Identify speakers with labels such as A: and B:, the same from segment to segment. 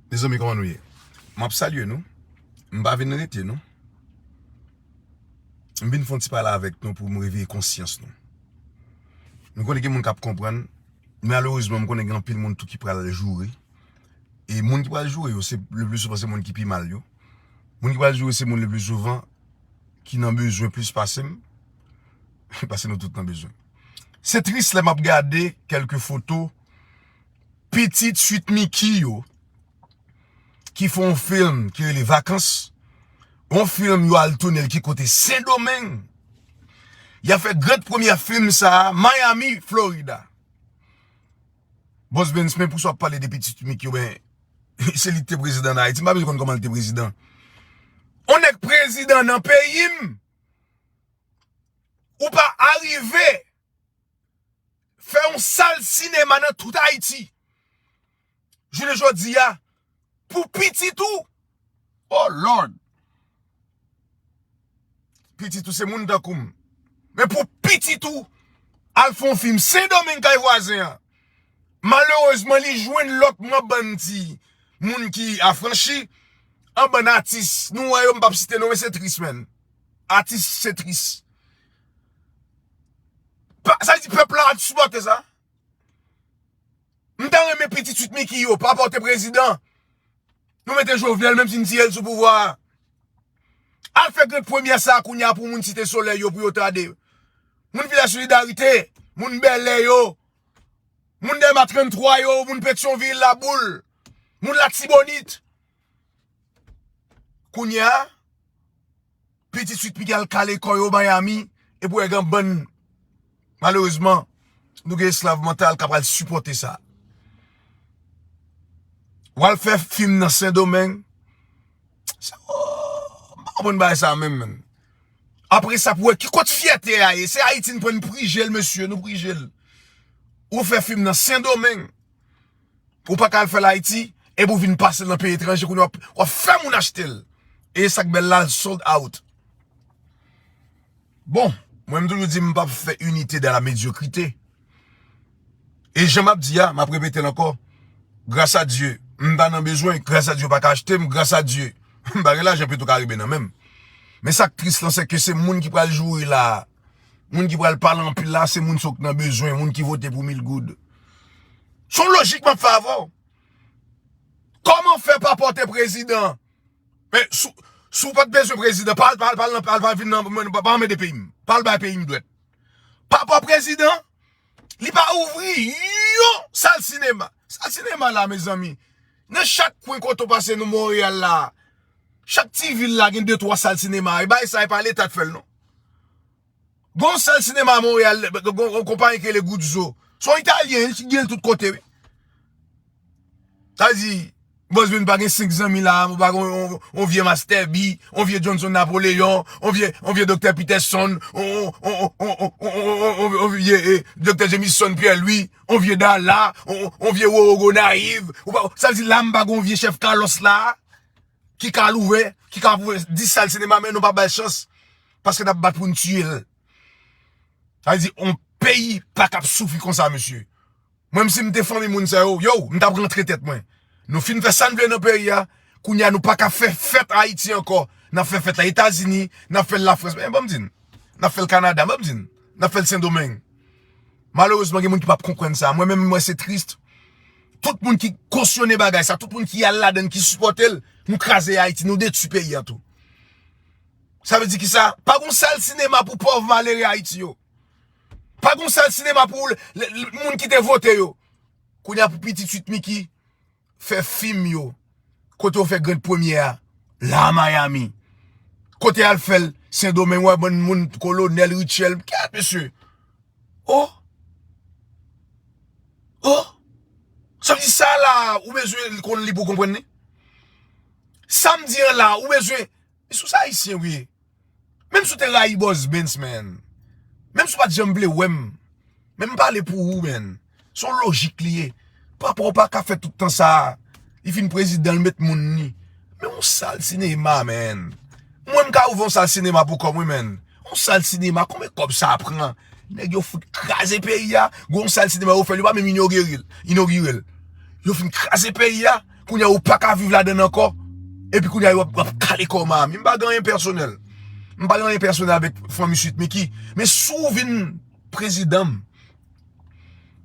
A: Mezanmi kòman nou ye? Map salye nou, m pa vin rete non, m vin fè yon ti pale avèk nou pou m reveye konsyans nou. M konnen gen moun kap konprann, malerezman m konnen gen anpil moun tou ki pral joure, e moun ki pral joure yo se le pli souvan se moun ki pi mal yo, moun ki pral joure se moun le pli souvan ki nan bezwen plis pase m, pase nou tout nan bezwen. Se tris lè map gade kèlke foto. Pitit Sweet Micky yo ki fè yon film ki rele Vakans, yon film yo al toune l ki kote Sendomeng. Y ap fè grand premyè film sa a Miami, Florida. Bòs Bens, men pou sa w ap pale de Pitit Sweet Micky yo, men se li ki te prezidan nan Ayiti, m pa bezwen konn kòman li te prezidan. Yon nèg prezidan nan peyi m, ou pa arive. fè yon sal sinema nan tout Ayiti jounen jodi a pou pitit ou oh lord pitit ou se moun tankou m men pou pitit ou al fè yon fim sendomeng kay vwazen an malerezman li jwenn lòt nan bann ti moun ki afranchi an bann atis nou wè yo m pap site non men se tris menn atis se tris. Sa vle di pèp la ap sipòte sa? M ta renmen pitit Sweet Micky yo pa pote prezidan. Nou mete Jovenel menm si n tiye l sou pouvwa a. Al fè grand premyè sa a kounye a pou moun Site Solèy yo pou yo ta de. Moun Vilaj Solidarite, moun Bèlè yo, moun Dèlma 33 yo, moun Petyonvil, Laboul, moun Latibonit. Kounye a. Pitit sweet micky al kale kò yo Miami epi ou wè gen bann malerezman nou gen esklav mantal kap al sipòte sa. Ou al fè fim nan sendomeng sa ooh m pa konprann bagay sa menm menm. Apre sa pou wè ki kot fyète a ye se ayiti n pran n prije l mesye nou prije l. Ou fè fim nan sendomeng. Ou pa ka al fè l Ayiti epi ou vin pase l nan peyi etranje kounye a w ap fè moun achte l. E sa k bèl la l sold out. Bon, mwen m toujou di m pa p fè inite dan la medyokrite. E jan m ap di a, m ap repete l ankò, gras a Dye m pa nan bezwen, gras a Dye yo pa ka achte m, gras a Dye m pa gen lajan petro karibe nan men m. Men sa k tris lan se ke se moun ki pral joure la a. Moun ki pral pale anpil la se moun sok nan bezwen, moun ki vote pou mil goud. Son lojik map fè avè w. Koman fè pa pote prezidan? Men, sou pat bezwen prezidan, pa al, pa al, pa al nan, pa al, pa al vin nan, mwen, pa anmen de peyim. Pa al bay peyim dwèt. Pa pa prezidan, li pa ouvri yon sal sinema. Sal sinema la, mezanmi, nan chak kwen kote w pase nan Montreal la, chak ti vil la gen 2-3 sal sinema. E bay sa e pa leta k fè l non. Gen yon sal sinema Montreal, gen yon konpayi ki rele Guzzo. Se yon italyen, li gen l tout kote wi. Sa vle di, Boss Ben pa gen 5 zanmi la, ou pa gen yon vye Master B, yon vye Johnson Napoleon, yon vye Doktè Peterson, yon vye Doktè Jameson Pierre Louis, yon vye Darla, yon vye Roro Gonaïves. Sa vle di la m pa gen yon vye Chef Carlos la. ki ka louve, ki ka pwouve 10 sal sinema men nou pa bal chans paske nap bat poun tiye l. Sa vle di on peyi pa kab soufri konsa mesye. Mwen si m te fanmi moun sa yo, yow m tap rantre tèt mwen. Nou fin fè sa n vle nan peyi a, kounye a nou pa ka fè fèt Ayiti ankò, nap fè fèt la Etazini, nap fè l Lafrans, men banm di n, nap fè l Kanada, banm di n, nap fè l Sendomeng. Malerezman gen moun ki pap konprann sa, mwen menm m wè se triste. Tout moun ki kosyone bagay sa, tout moun ki al ladann, ki sipòte l, nou kraze Ayiti, nou detwi peyi an tou. Sa vle di ki sa? Pa gon sal sinema pou pòv malere Ayiti yo. Pa gon sal sinema pou moun ki te vote yo. Kounye a pou pitit Sweet Micky, fè fim yo kote yo fè grand premye a la miami kote al fèl sendomeng wè bann moun kolonèl richèl kèt mesye oh oh sa vle di sa la ou bezwen li konn li pou konprann li sa m di an la ou bezwen sou sa ayisyen ou ye. Menm si w te rayi Boss Bens man, menm si w pa t janm vle wè m, men m pale pou ou man. Se yon lojik li ye. Papa w pa ka fè tout tan sa a. Li fin prezidan, li met moun li. Men yon sal sinema man. Mwen m ka ouvè yon sal sinema pou kò mwen man. Yon sal sinema, konbyen kòb sa pran? Nèg yo fout kraze peyi a, gen yon sal sinema yo fè, yo pa menm inogire l. Yo fin kraze peyi a. Kounya ou paka viv ladann ankò epi kounya yo ap kale kòw Maami m pa gen anyen pèsonèl m pa gen anyen pèsonèl avèk fanmi Sweet Micky men si w vin prezidan m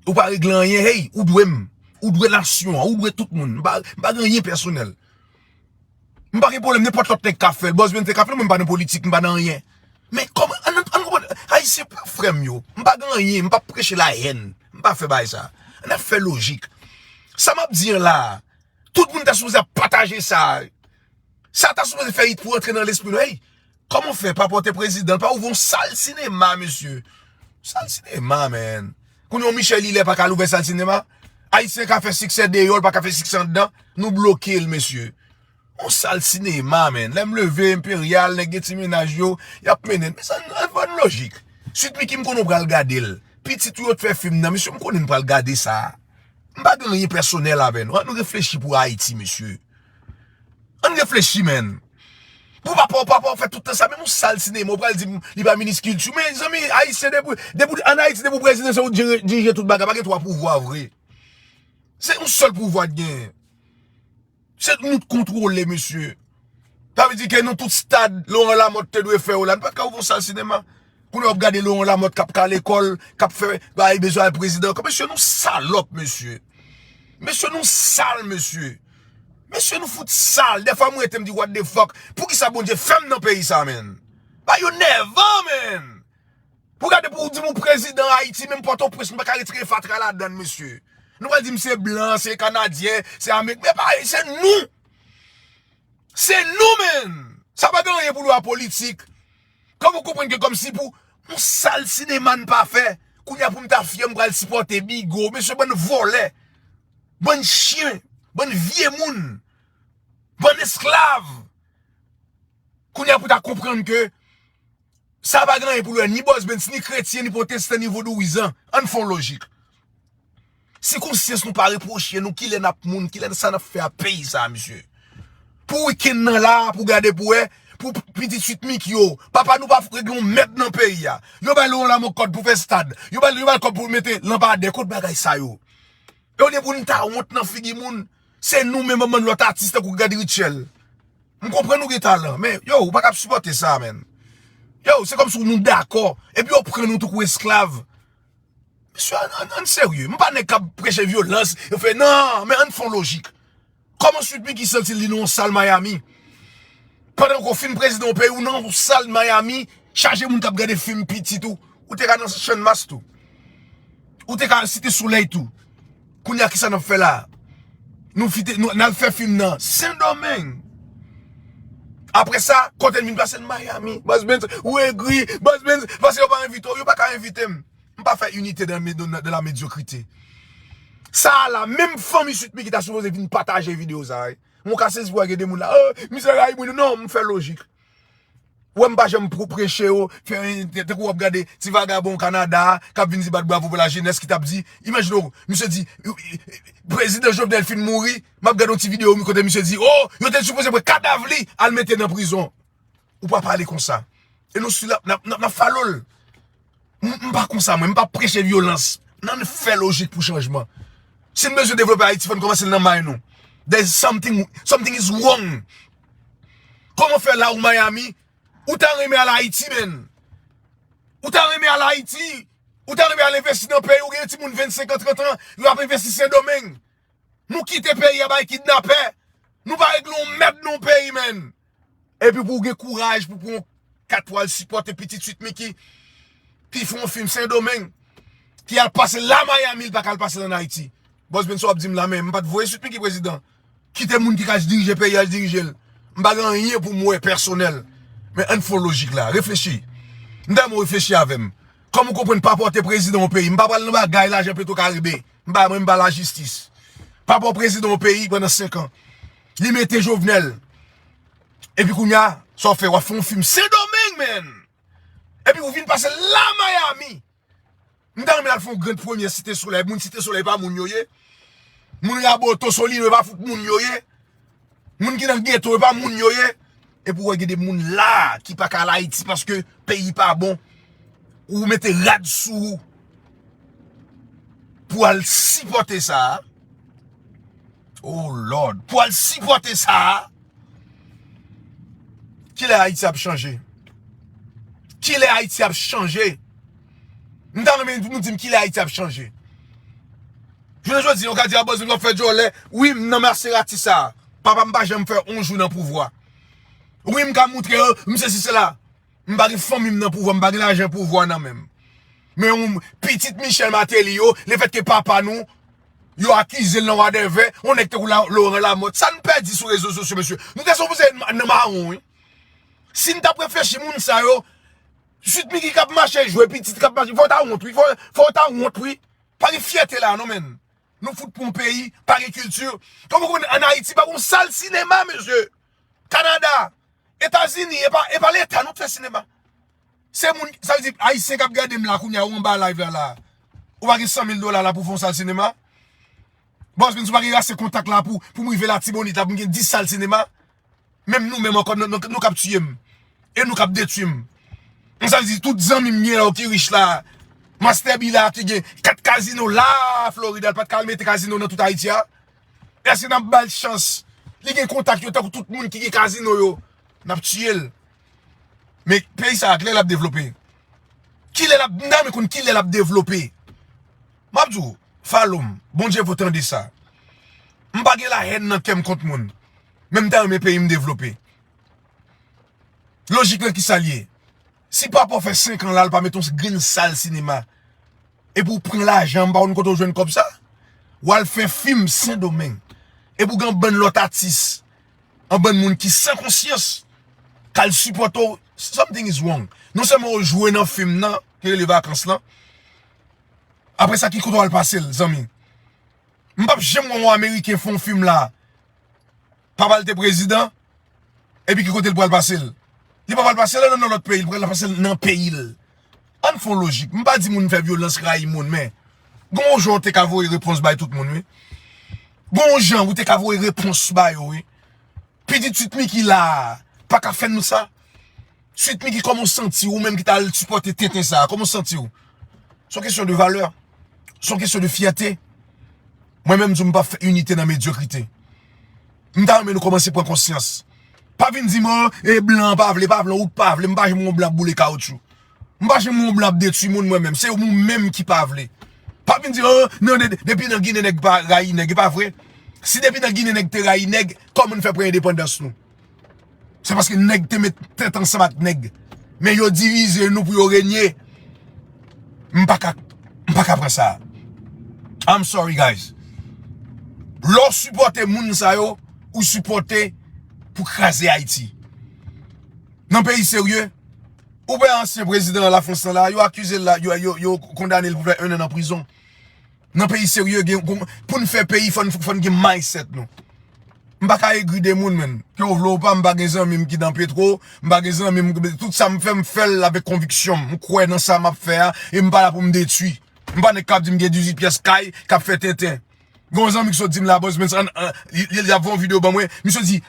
A: ou pa regle anyen hey ou dwe m ou dwe nasyon an ou dwe tout moun m pa gen anyen pèsonèl M pa gen pwoblèm nenpòt lòt nèg ka fè l, Bossbene te ka fè l, mwen m pa nan politik, m pa nan anyen. Men kòman, an n konprann, Ayisyen pran frè m yo, m pa gen anyen, m pa p preche lahèn, m pa fè bagay sa. An n ap fè lojik. Sa m ap di an la a, tout moun ta sipoze ap pataje sa a. Sa ta sipoze fè it pou rantre nan lespri nou, èy, Koman w fè pa pote prezidan pa ouvri yon sal sinema mesye Sal sinema man Kounye yon Michel Hilaire pa ka al ouvè sal sinema Ayisyen ka fè siksè deyò l pa ka fè siksè anndan Nou bloke l mesye Yon sal sinema man Lè m leve Imperial nèg gen ti mennaj yo y ap mennen m Mezanmi an n pran lojik Sweet Micky m konnen w pral gade l Pitit ou yo t fè fim nan mesye m konnen n pral gade sa M pa gen anyen pèsonèl avè nou An n reflechi pou Ayiti mesye Ann reflechi menn. Pou papa w papa w fè tout tan sa menm yon sal sinema ou pral di m li pa minis kilti men zanmi ayisyen depi depi an ayiti depi w prezidan se ou k dirije tout bagay pa gen 3 pouvwa vre se yon sèl pouvwa k gen se nou k kontwole mesye sa vle di ke nou tout stad Laurent Lamothe te dwe fè yo la nou pa t ka ouvè yon sal sinema. Koulye wap gade Laurent Lamothe kap ka lekol, kap fè bagay li bezwen al prezidan ankò. Mesye nou salòp mesye. Mesye nou sal mesye. Mesye nou fout sal. Defwa mwen rete mdi what the fuck. Poukisa Bondye fèm nan peyi sa menn. Bagay yo nèvan menn. Pou gade pou ou dim ou prezidan Haiti menm potoprens nou paka retire fatra ladann mesye. Nou pral dim se blan, se kanadyen, se ameriken. Men pa e se nou. Se nou menn. Sa pa gen anyen pou lwa politik. Kòman w konprann ke kòm si pou yon sal sinema n pa fè, kounye a pou m ta fyè m pral sipòte Bigo. Mesye bann vòlè, bann chyen, bann vye moun, bann esklav. Kounye a pou ta konprann ke sa pa gen anyen pou l wè ni Bòs Bens, ni kretyen, ni pwotestan, ni vodouyizan. An n fè yon lojik. Si konsyans nou pa repwoche nou kilè nap moun kilè sa nap fè ak peyi sa misye. Pou weekend nan la pou gade pou wè pou pitit suite Micky yo papa nou pa fou règle yon mèd nan peyi a. Yo bal yon lamò kòd pou fè stad. Yo bal yon bal kòb pou mete lanpadè kot bagay sa yo. E ou liye pou nou ta wont nan figi moun se nou menm bann lòt atis tankou Gad Rutshelle. M konprann nou gen talan men yow ou pa kab sipòte sa menn. Yow se kòmsi nou dakò epi yo pran nou tankou esklav. Mesye ann serye, m pa nèg kap preche vyolans, yo fè nan, men ann fon lojik. Kòman Sweet Micky santi l li nan yon sal Miami? Pandan ke w fin prezidan yon peyi, ou nan yon sal Miami, chaje moun kap gade fim pitit ou, ou te ka nan Channmas tou. Ou te ka al Site Solèy tou. Kounya kisa nap fè la. Nou fite nou nal fè film nan sendomeng. Apre sa kote n vin pase n miami. Bas benz ou egri. Bas benz pase yo pa envite w. Yo paka envite m. M pa fè inite dan la medyokrite. Sa a la menm fanmi sweet micky ta sipoze vin pataje video sa a wi. Mwen ka sezi pou wè gen de moun la oh misye rayi mwen. Non m fè lojik. Wè m pa janm pou preche yo, fè tankou wap gade ti vagabon Canada kap vin di bat bravo pou la jenès ki tap di, imajine w misye di prezidan Jovenel fin mouri, map gade yon ti video kote misye di oh yo te sipoze pran kadav li al mete nan prizon. Ou pa pale konsa. E nou stil ap nap follow l. M pa konsa mwen, m pa preche vyolans. N ann fè lojik pou chanjman. Si n bezwen devlope Ayiti fò n kòmanse l nan may nou. There is something, something is wrong. Kòman fè la ou Miami, ou ta renmen al Ayiti menn? Ou ta renmen al Ayiti? Ou ta renmen al envesti nan peyi ou gen yon timoun 25 an, 30 an, yo ap envesti Sendomeng? Nou kite peyi a bay kidnapè. Nou pa regle yon mèd nan yon peyi menn. Epi pou w gen kouraj pou pran yon kat pou al sipòte pitit Sweet Micky ki fè yon fim Sendomeng, ki al pase la Miami li pa ka al pase l an Ayiti. Bòs Ben sa w ap di m la men m pa t voye Sweet Micky prezidan. Kite moun ki ka dirije peyi a dirije l. M pa gen anyen pou m wè pèsonèl. Men ann fon lojik la. Reflechi. M ta renmen w reflechi avè m. Kòman w konprann papa w te prezidan yon peyi? M pa pral nan bagay lajan petwokaribe. M pa mwen m pa lajistis. Papa w prezidan yon peyi pandan senkan. Li mete jovenel. Epi kounya sa w fè wap fè yon film sendomeng menn. Epi ou vin pase la miami. M ta renmen al fè yon grand premye site soley. Moun site soley pa moun yo ye. Moun raboto solino e pa fout moun yo ye. Moun ki nan geto e pa moun yo ye. Epi ou wè gen de moun la a ki pa ka al Ayiti paske peyi pa bon. Ou mete rad sou ou pou al sipòte sa a. Oh Lord! Pou al sipòte sa a. Ki lè Ayiti ap chanje? Ki lè Ayiti ap chanje? M ta renmen pou nou di m ki lè Ayiti ap chanje? Jounen jodi yo ka di a Bòzin wap fè djòlè wi m nan Maserati sa a papa m pa janm fè yon jou nan pouvwa wi m ka moutre yo m sesi sela m pa gen fanmi m nan pouvwa m pa gen lajan pouvwa nan men m men yon pitit Michel Martelly yo le fèt ke papa nou yo akize l nan wadèvè yon nèg tankou Laurent Lamothe sa n pèdi sou rezo sosyo mesye nou te sipoze nan mawon wi si n tap reflechi moun sa yo Sweet Micky kap mache jwe pitit kap mache fò w ta wont wi fò w ta wont wi. Pa gen fyète la non menn. Nou fout pou yon peyi pa gen kilti. Kòm ou konnen an Ayiti pa gon sal sinema mesye. Kanada, Etazini e pa leta nou k fè sinema. Se moun sa vle di ayisyen k ap gade m la kounya ou anba live la la a. Ou pa gen 100,000 dola la pou w fè yon sal sinema. Bòzbens ou pa gen ase kontak la pou m rive latibonit la pou m gen 10 sal sinema. Menm nou menm ankò nou kap tiye m. E nou kap detwi m. Konn sa m di tout zanmi m gen yo ki rich la. Master B la ki gen 4 kazino la Florida l pat ka al mete kazino nan tout Ayiti a. Eske nap bal chans. Li gen kontak yo tankou tout moun ki gen kazino yo. Nap tiye l. Men peyi sa a kilè lap devlope. Kilè lap nan men konn kilè lap devlope. Map di w, Falo m, Bondye vo tande sa. M pa gen la hèn nan kè m kont moun. Men m ta renmen peyi m devlope. Lojik lan ki sa l ye? Si papa w fè 5 an la l pa mete yon grenn sal sinema. Epi w pran lajan, m pa konn kote w jwenn kòb sa. W al fè fim Sendomeng. Epi w gen yon bann lòt atis. Yon bann moun ki san konsyans. K al sipòte w. Something is wrong. Non sèlman w jwe nan fim nan, ki rele vakans lan. Apre sa ki kote wal pase l zanmi. M pap janm wè yon ameriken fè yon film la papa l te prezidan epi ki kote l pral pase l. Li pa pral pase l nan yon lòt peyi li pral pase l nan peyi l. Ann fè yon lojik m pa di moun fè vyolans rayi moun men gen yon jan w te ka voye repons bay tout moun wi. Gen yon jan ou te ka voye repons ba yo wi. Pitit Sweet Micky la a paka fè nou sa. Sweet Micky kòman ou santi ou menm ki ta al sipòte tenten sa a kòman ou santi ou? Son kesyon de valè, son kesyon de fyète Mwen menm m di w m pap fè inite nan medyokrite M ta renmen nou kòmanse pran konsyans Pa vin di m o e blan an pa vle pa vle ou pa vle m pa janm wè yon blan ap boule kawoutchou M pa janm wè yon blan ap detwi moun mwen menm se ou menm ki pa vle Pa vin di m o nan de depi nan ginen nèg pa rayi nèg e pa vre Si depi nan ginen nèg te rayi nèg kòman n fè pran endepandans nou? Se paske nèg te met tèt ansanm ak nèg. Men yo divize nou pou yo renye. M pa ka, m pa ka pran sa. I'm sorry guys. Lè w sipòte moun sa yo, ou sipòte pou kraze Ayiti. Nan peyi serye, ou wè ansyen prezidan la Frans nan la, yo akize l la, yo kondane l pou fè 1 an nan prizon. Nan peyi serye gen pou poun fè peyi fòn gen mindset nou. M pa ka egri de moun menn. Ke w vle w pa m pa gen zanmi m ki dan petro, m pa gen zanmi m tout sa m fè m fè l avèk konviksyon m. M kwè nan sa map fè a e m pa la pou m detui. M pa nèg kap di m gen 18 pyès kay kap fè tenten. Gon zanmi ki sot di m la bòz men san li ap fè yon video ban mwen, misye di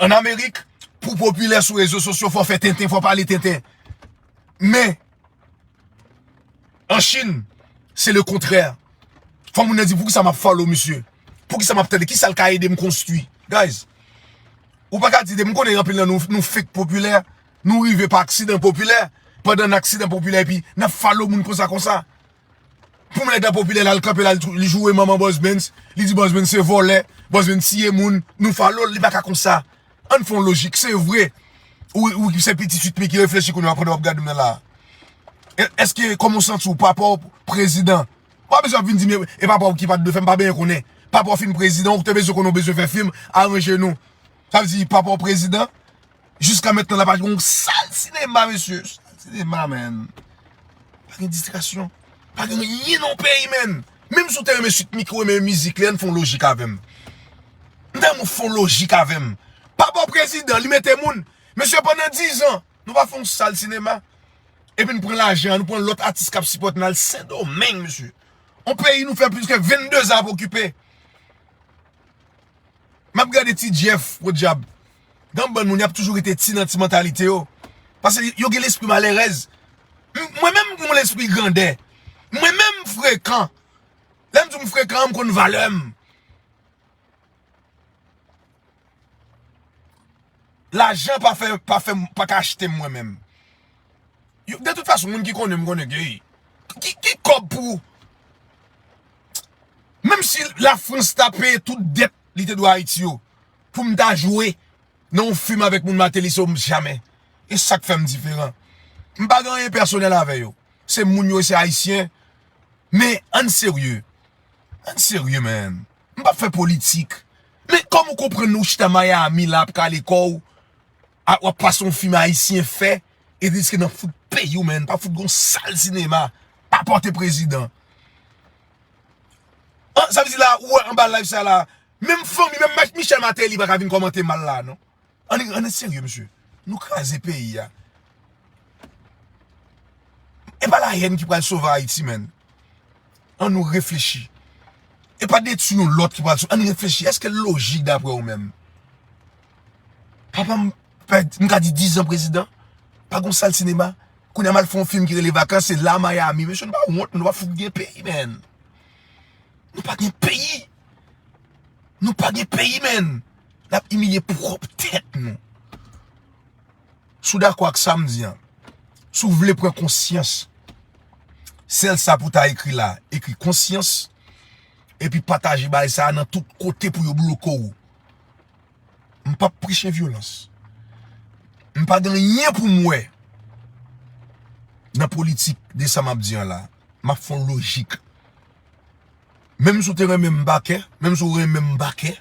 A: an amerik pou w popilè sou rezo sosyo fò w fè tenten, fò w pale tenten. Men En Chine, c'est le contraire. Fò moun nan di pou ki sa map follow misye. Pou ki sa map tande. Ki sa l ka ede m konstwi. Guys. Ou pa ka di de m konnen anpil nan nou nou fake popilè. Nou rive pa aksidan popilè. Pandan nan aksidan popilè epi nan follow moun konsa konsa. Pou nèg la popilè lal kanpe lal li joure manman bòsbens li di bòsbens se vòlè bòsbens tiye moun nou falo l li paka konsa ann fon lojik se vre ou ki se pitit 8 me ki reflechi kounye a pandan wap gade mwen la eske kòman w santi w papa w prezidan ou pa bezwen ap vin di m e papa w ki pat dwe fè m pa benyen konnen papa w fin prezidan ou te bezwen konnen w bezwen fè fim aranje nou sa vle di papa w prezidan. Jiska mentnan la pa gen yon sal sinema mesye. Sal sinema menn. Pa gen distraksyon. Pa gen anyen nan yon peyi menn. Menm si w te renmen Sweet Micky ou renmen mizik li an n fè yon lojik avè m. M ta renmen w fè yon lojik avè m. Pa ba w prezidan li mete moun. Mesye pandan 10 an nou pa fè yon sal sinema. Epi nou pran lajan an nou pran lòt atis k ap sipòte nou al Sendomeng mesye. Yon peyi nou fè plis ke 22 zan ap okipe. M ap gade ti Jeff podyab. Gam bann moun yap toujou rete ti nan ti mantalite yo. Pase yo gen lespri malerèz. Mwen menm gen yon lespri grandè. Mwen menm m frekan. Lè m di w m frekan an m konn valè m. Lajan pa fè, pa fè, pa ka achte m mwen menm. De tout fason moun ki konnen m konnen ke ki kòb pou menm si la frans ta peye tout dèt. li te dwe Ayiti yo pou m ta jwe nan yon fim avèk moun Mateli se yo m jamè. E sa k fè m diferan. M pa gen anyen pèsonèl avè yo. Se moun yo e se Ayisyen. Men, ann serye. Ann serye menn. M pa p fè politik. Men, kòman ou konprann lè ou chita Miami la ap kale kò ou a ou ap pase yon fim Ayisyen fè e riske nan fout peyi ou menn pa fout gen yon sal sinema pa pòte prezidan. An sa vle di la ou wè anba live sa la menm fanmi menm mèt Michel Martelly paka vin kòmante mal la non Ann serye mesye nou kraze peyi a E pa la hèn ki pral sove Ayiti menn An nou reflechi E pa detui yon lòt ki pral sove An nou reflechi èske l lojik daprè ou menm Papa m Fè m ka di 10 zan prezidan, pa gon sal sinema, kounye a m al fè yon fim ki rele vakans se la Miami, mesye nou pa wont nou pa fout gen peyi menn. Nou pa gen peyi, nou pa gen peyi menn, n ap imilye pwòp tèt nou. Si w dakò ak sa m di an, si w vle pran konsyans, sèl sa pou w ta ekri la, ekri konsyans, epi pataje bagay sa a nan tout kote pou yo bloke w. M pap preche vyolans. M pa gen anyen pou m wè nan politik de sa m ap di an la. M ap fè yon lojik. Menm si w te renmen m bake, menm si w renmen m bake,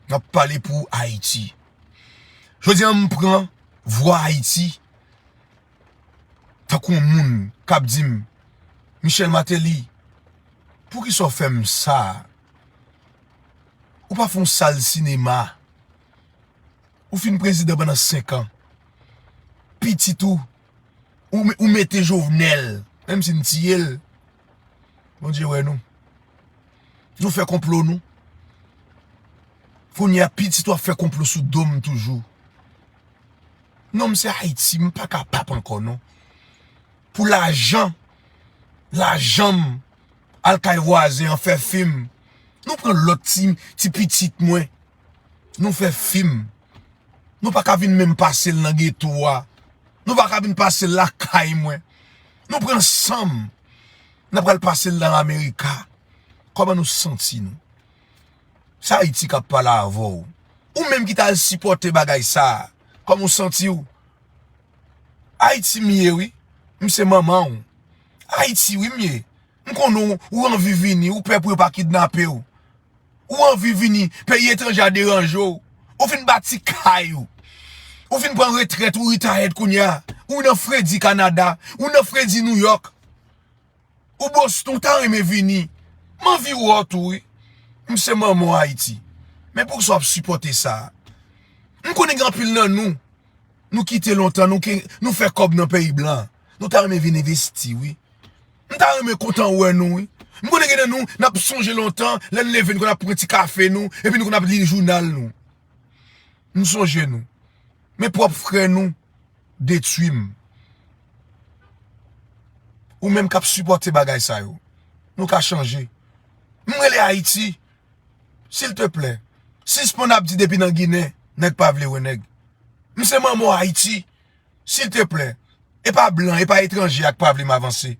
A: m ap pale pou Ayiti. Jodi an m pran vwa Ayiti tankou yon moun k ap di m, Michel Martelly, poukisa w fè m sa a? Ou pa fon sal sinema. Ou fin prezidan pandan 5 an. Pitit ou. Ou mete jovenel. Menm si nou tiye l. Bondye wè nou. Nou fè konplo nou. Kounye a pitit ou ap fè konplo sou do m toujou. Non m se ayiti. M pa ka pap ankò non. Pou lajan. Lajan m. Al kay vwazen an fè fim. Nou pran lòt ti ti pitit mwen. Nou fè fim. Nou pa ka vin menm pase l nan geto a. Nou pa ka vin pase l lakay mwen. Nou pran san m. N ap al pase l nan Amerika. Kòman nou santi nou? Se Ayiti k ap pale avè w. Ou menm ki t al sipòte bagay sa a, kòman w santi w? Haiti m ye wi. M se manman w. Haiti wi m ye. M konnen w anvi vini. Ou pè pou yo pa kidnape w. Ou anvi vini. Peyi etranje a deranje w. Ou fin bati kay ou. Ou fin pran retrèt ou retired kounya. Ou nan fredi Canada. Ou nan fredi New York. Ou Boston ou ta renmen vini m anvi wè w tou wi m se manman w Ayiti men pou kisa w ap sipòte sa m konnen gen anpil nan nou nou kite lontan nou fè kòb nan peyi blan nou ta renmen vin envesti wi m ta renmen kontan wè nou wi m konnen gen nan nou n ap sonje lontan lè n leve n konn ap pran ti kafe nou epi nou konn ap li jounal nou. M sonje nou. Men pwòp frè nou detwi m. Ou menm k ap sipòte bagay sa yo. Nou ka chanje. M rele Ayiti. Silteplè, sispann ap di depi nan Ginen, nèg pa vle wè nèg. M se manman w Ayiti. Silteplè, e pa blan, e pa etranje a k pa vle m avanse.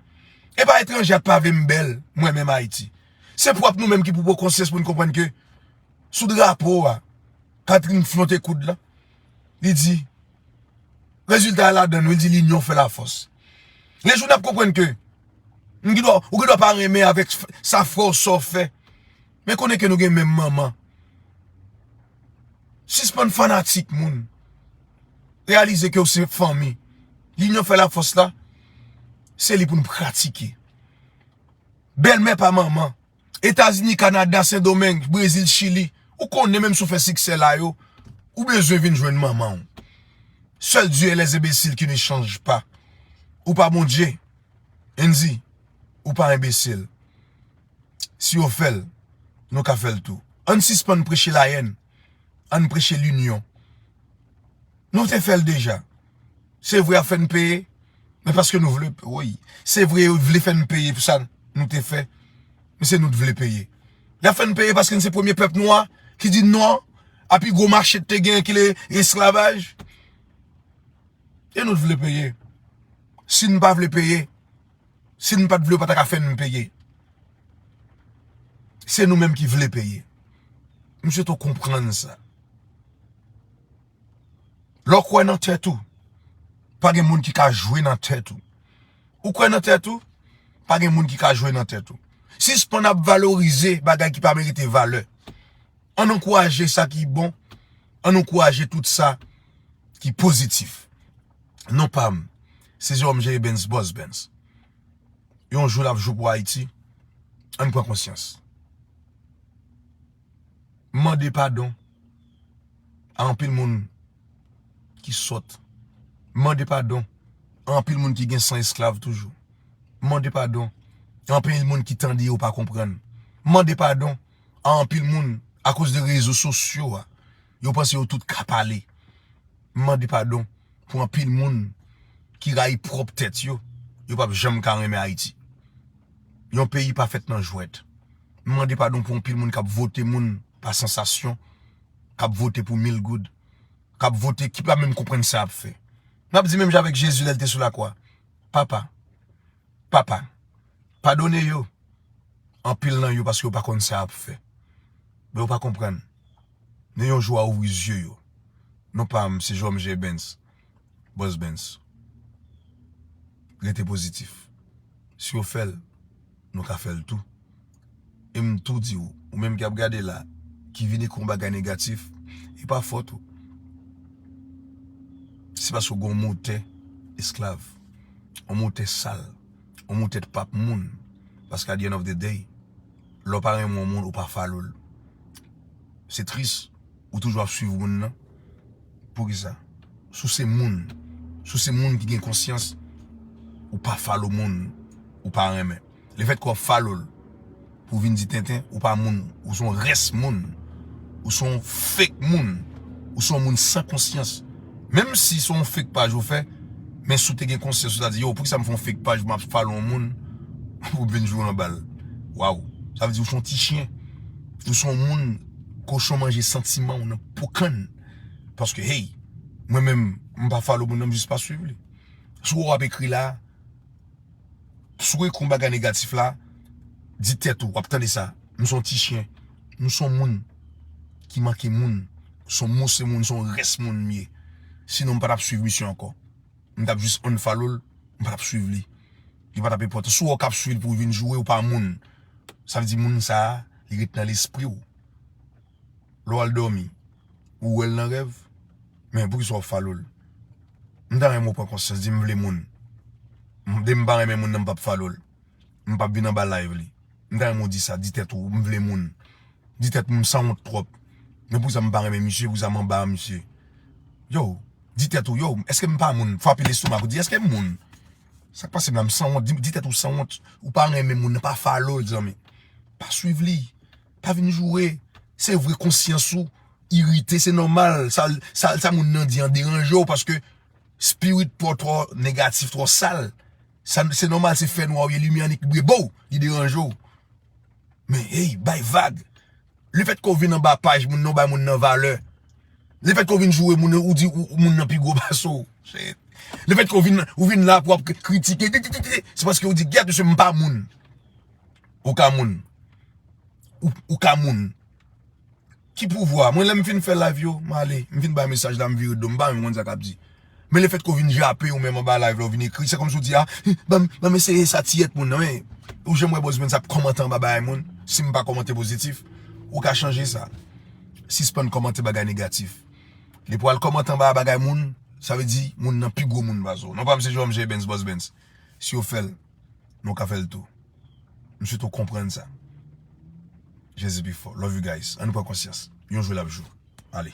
A: E pa etranje a k pa vle m bèl, mwen menm Ayiti. Se pwòp nou menm ki pou pran konsyans pou n konprann ke. sou drapo a Catherine flonte koud la li di rezilta a ladann li di linyon fè la fòs yon jou nap konprann ke ou gen dwa pa renmen avèk sa frè w sa w fè men konnen ke nou gen menm manman sispann fanatik moun reyalize ke ou se fanmi linyon fè la fòs la se li pou nou pratike bèlmè pa manman Etazini, Kanada, Sendomeng, Brezil, Chili. Ou konnen menm si w fè siksè la yo, ou bezwen vin jwenn manman w. Sèl Dieu est les imbéciles qui ne changent pas. Ou pa Bondye. Andy, ou pa enbesil. Si yo fè l, nou ka fè l tou. Ann sispann preche layèn. Ann preche linyon. Nou te fè l deja. Se vre yap fè n peye men paske nou vle woy se vre yo vle fè n peye pou sa nou te fè men se nou t vle peye yap fè n peye paske n se premye pèp nwa ki di non a pi gwo mache te gen ki le esklavaj e nou t vle peye si n pa vle peye si n pat vle yo pa ta ka fè n peye se nou menm ki vle peye misye to konprann sa. Lè w kwè nan tèt ou, pa gen moun ki ka jwe nan tèt ou. Ou kwè nan tèt ou, pa gen moun ki ka jwe nan tèt ou. Sispann ap valorize bagay ki pa merite valè. Ann ankouraje sa ki bon, ann ankouraje tout sa ki pozitif. Non pa m, se Jérôme Jéribens Boss Bens. Yon jou l ap jou pou Ayiti, ann pran konsyans. M mande padon. a anpil moun ki sòt. Mande padon a anpil moun ki gen san esklav toujou. Mande padon a anpil moun ki tande yo pa konprann. Mande padon a anpil moun akoz de rezo sosyo a yo panse yo tout ka pale. Mande padon pou anpil moun ki rayi pwòp tèt yo, yo pap janm ka renmen Ayiti. Yon peyi pa fèt nan jwèt. Mande padon pou anpil moun k ap vote moun pa sansasyon, k ap vote pou mil goud, k ap vote, ki pa menm konprann sa y ap fè. N ap di menm jan avèk Jezi lè l te sou lakwa, Papa, Papa, padone yo, anpil nan yo paske yo pa konn sa y ap fè. Men yo pa konprann. Men yon jou w a ouvri zye yo. Non pa m, se Jòm Jèbens. Boss Bens. Rete pozitif. Si yo fè l, nou ka fè l tou. E m tou di ou, ou menm ki ap gade la, ki vini kon bagay negatif, e pa fòt ou. Se paske ou gen yon motè esklav. Yon motè sal. Yon motè t pap moun. Paske at the end of the day, lè w pa renmen yon moun, ou pa follow l. Se tris, ou toujou ap swiv moun nan poukisa si w se moun si w se moun ki gen konsyans ou pa follow moun ou pa renmen le fèt ke w ap follow l pou vin di tenten ou pa moun ou son rès moun ou son fake moun ou son moun san konsyans menm si son fake paj ou fè men si w te gen konsyans ou ta di yo poukisa m fè yon fake paj m ap follow yon moun pou m vin joure anba l waw sa vle di ou son ti chyen ou son moun. Kochon manje santiman ou nan pou kann paske hey mwen menm m pa follow moun nan m jis pa swiv li si w wè w ap ekri la si w ekri yon bagay negatif la di tèt ou w ap tande sa m son ti chyen m son moun ki manke moun m son mousse moun m son rès moun m ye sinon m pa tap swiv misye ankò. m tap jis unfollow l m patap swiv li li patap enpòtan si w wè w kap swiv l pou vin joure ou pa moun sa vle di moun sa li ret nan lespri w lè w al dòmi ou wè l nan rèv men poukisa w follow l m ta renmen w pran konsyans di m vle moun depi m pa renmen moun nan m pap follow l m pap vin anba live li m ta renmen w di sa di tèt ou m vle moun di tèt m m sanwont twòp men poukisa m pa renmen misye poukisa m anba misye yow. Di tèt ou yow eske m pa moun fwape lestomak ou di eske m moun Sak pase m la m sanwont di tèt ou sanwont ou pa renmen moun nan pa follow l zanmi pa swiv li pa vin joure se vre konsyans ou irite se nòmal sa moun nan di an deranje w paske spirit pa w twò negatif twò sal se nòmal se fènwa w ye limyè annik bri bo li deranje w. Men hey bay vag Le fèt ke w vin anba paj moun nan ou bay moun nan valè Le fèt ke w vin joure moun nan ou di moun nan pi gwo pase w Le fèt ke w vin ou vin la pou ap kritike titititi Se paske ou di gyèt mesye m pa moun Ou ka moun Ou ka moun Ki pouvwa? Mwen lèm fin fè live yo, m ale. M fin bay mesaj la, m vire do m. M pa menm konn sa kap di. Men le fèt ke w vin jape ou menm anba live la, ou vin ekri, se kòmsi w di a, banm, banm eseye sa ti et moun nan. Men, ou janm wè Buzz Mens ap kòmante anba bagay moun? Si m pa kòmante pozitif, ou ka chanje sa. Sispann kòmante bagay negatif. Li pou al kòmante anba bagay moun, sa vle di moun nan pi gwo moun pase w. Non pa m se Jomjebens, Buzz Mens. Si yo fè l. men ou ka fèl tou m swete ou konprann sa Jezi pi fò love you guys an nou pran konsyans yon jou lap jou ale.